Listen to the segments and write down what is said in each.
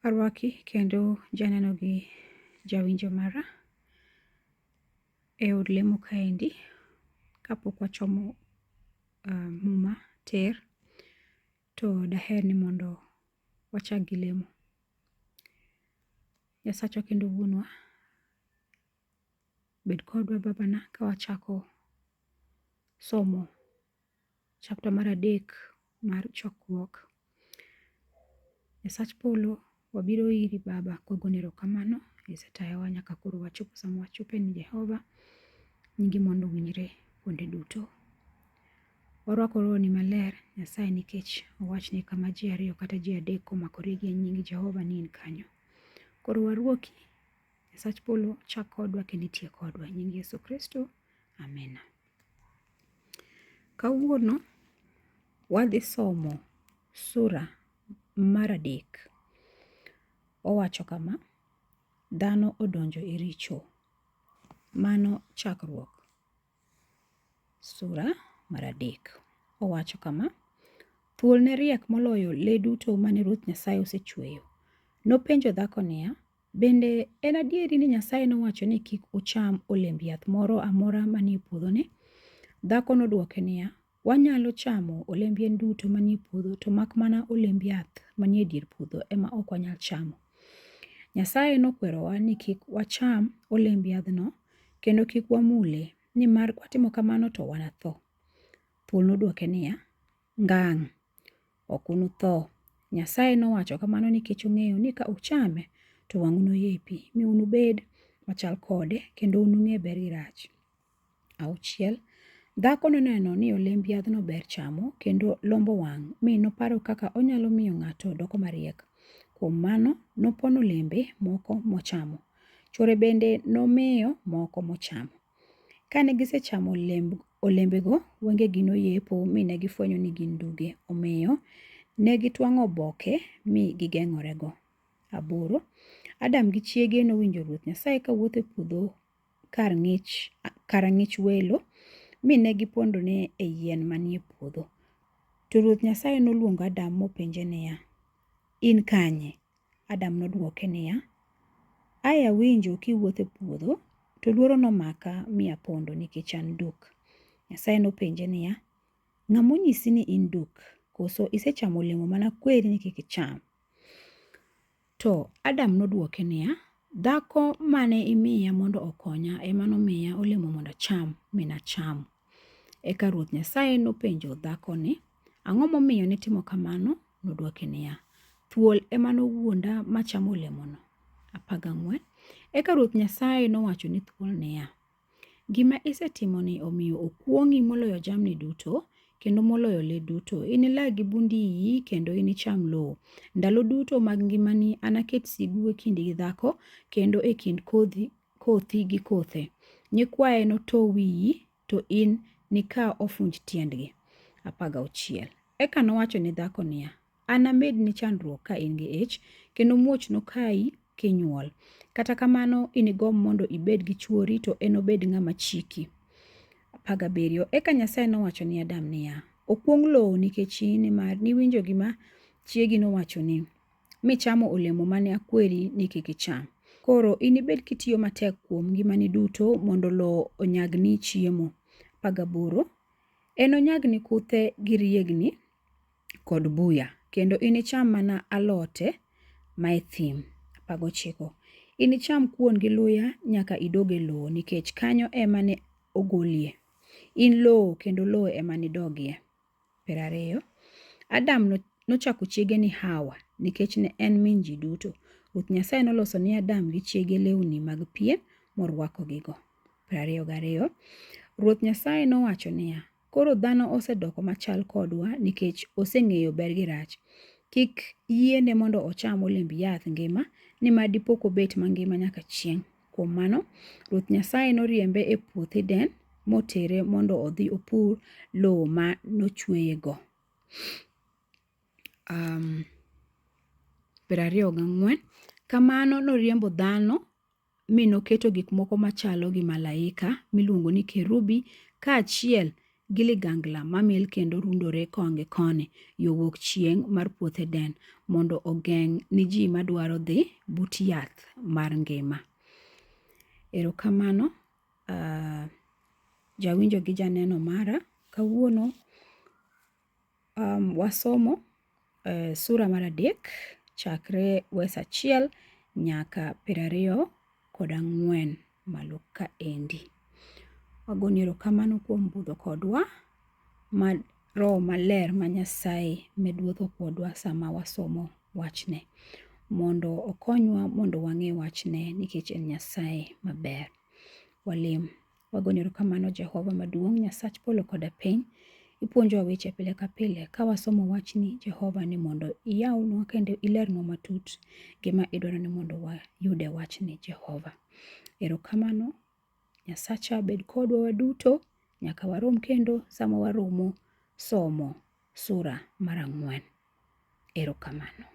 Arwaki kendo janeno gi jawinjo mara e od lemo kaendi kapok wachomo uh, muma ter to daher ni mondo wachak gi lemo. Nyasachwa kendo wuonwa, Bed kodwa Babana ka wachako somo chapta mar adek mar chokruok. Nyasach polo, wabiro iri Baba kwagoni erokamano isetayowa nyaka koro wachopo sama wachope ni Jehova, nyingi mondo owinjre kuonde duto. Warwako rohoni maler Nyasaye nikech owach ni kama ji ariyo kata ji adek omakore gi nying Jehova ni in kanyo. Koro warwoki Nyasach polo chak kodwa kendo itie kodwa. Nying Yesu Kristo. Amina. Kawuono wadhi somo sura mar adek. Owacho kama, dhano odonjo e richo. Mano chakruok sura mar adek. Owacho kama, thuol ne riek moloyo le duto mane Ruoth Nyasaye osechweyo. Nopenjo dhako niya, Bende, en adier ni Nyasaye nowacho ni kik ucham olemb yath moro amora manie puodhone? Dhako nodwoke niya, Wanyalo chamo olemb yien duto manie puodho, to mak mana olemb yath manie dier puodho ema ok wanyal chamo. Nyasaye nokwerowa ni kik wacham olemb yadhno kendo kik wamule, nimar kwatimo kamano to wanatho. Thuol nodwoke niya, Ngang'! Ok unutho. Nyasaye nowacho kamano nikech ong'eyo ni ka uchame, to wang'u noyepi, mi unubed machal kode, kendo unung'e ber gi rach. Auchiel, dhako noneno ni olemb yadhno ber chamo, kendo lombo wang', mi noparo kaka onyalo miyo ng'ato doko mariek. Kuom mano, nopono olembe moko mochamo. Chwore bende nomiyo moko mochamo. Kane gisechamo olemb, olembego, wengegi noyepo mi ne gifwenyo ni gin duge. Omiyo, ne gitwang'o oboke mi gigeng'orego. Aboro, Adam gi chiege nowinjo Ruoth Nyasaye ka wuotho e puodho kar ng'ich, kar ang'ich welo, mi ne gipondone e yien manie puodho. To Ruoth Nyasaye noluongo Adam mopenje niya, In kanye? Adam nodwoke niya, Ae awinjo kiwuotho e puodho, to luoro nomaka mi apondo nikech an duk. Nyasaye nopenje niya, Ng'a monyisi ni in duk? Koso isechamo olemo mana kweri ni kik icham? To Adam nodwoke niya, Dhako mane imiya mondo okonya ema nomiya olemo mondo acham, mi nachamo. Eka Ruoth Nyasaye nopenjo dhako ni, Ang'o momiyo nitimo kamano? Nodwoke niya, Thuol ema nowuonda ma chamo olemono. Apaga ng'wen. Eka Ruoth Nyasaye nowacho ni thuol niya, Gima isetimoni omiyo okuong'i moloyo jamni duto, kendo moloyo le duto. Inilag gi bund iyi kendo inicham lowo. Ndalo duto mag ngimani anaket sigu e kindi gi dhako, kendo e kind kodhi, kothi gi kothe. Nyikwaye noto wiyi to in nika ofunj tiendgi. 16 Eka nowacho ni dhako niya, An amedni chandruok ka in gi ich, kendo muoch nokayi kinyuol. Kata kamano inigom mondo ibed gi chwori, to enobed ng'ama chiki. 17 Eka Nyasaye nowacho ni Adam niya, Okuong lowo nikech in, nimar niwinjo gima chiegi nowachoni. michamo olemo mane akweri ni kik icham. Koro inibed kitiyo matek kuom ngimani duto mondo lowo onyagni chiemo. 18 Enonyagni kuthe gi riegni kod buya, kendo inicham mana alote mae thim. 19 Inicham kuon gi luya nyaka idog e lowo, nikech kanyo ema ne ogolie. In lowo, kendo lowo ema nidogie. Piero ariyo. Adam no- nochako chiege ni Hawa, nikech ne en min ji duto. Ruoth Nyasaye noloso ni Adam gi chiege lewni mag pien, morwakogigo. Piero ariyo gariyo. Ruoth Nyasaye nowacho niya, Koro dhano osedoko machal kodwa, nikech oseng'eyo ber gi rach. Kik yiene mondo ocham olemb yath ngima, nimar dipo kobet mangima nyaka chieng'. Kuom mano, Ruoth Nyasaye noriembe e puoth Eden motere mondo odhi opur lowo ma nochweyego. Um, piero ariyo gang'wen. Kamano noriembo dhano mi noketo gik moko machalo gi malaika miluongo ni kerubi kaachiel gi ligangla mamil kendo rundore konge koni yo wuok chieng' mar puoth Eden, mondo ogeng' ni ji madwaro dhi but yath mar ngima. Erokamano uh, jawinjo gi janeno mara kawuono Um, wasomo uh, sura mar adek chakre wes achiel nyaka piero ariyo kod ang'wen malo ka endi. Wagoni erokamano kuom budho kodwa ma Roho Maler ma Nyasaye med wuotho kodwa sama wasomo wachne mondo okonywa mondo wang'e wachne nikech en Nyasaye maber. Walim. Wagonyo erokamano Jehova maduong' Nyasach polo koda piny. Ipuonjowa weche pile ka pile ka wasomo wachni Jehova ni mondo iyawnwa kendo ilernwa matut gima idwaro ni mondo wayud e wachni Jehova. Erokamano Nyasacha bed kodwa waduto nyaka warom kendo sama waromo somo sura mar ang'wen. Erokamano.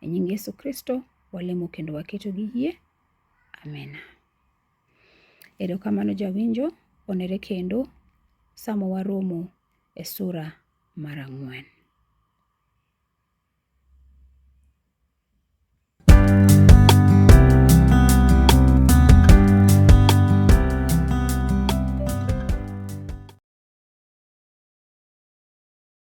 E nying Yesu Kristo walemo kendo waketo gi yie. Amena. Erokamano jawinjo, onere kendo sama waromo e sura mar ang'wen.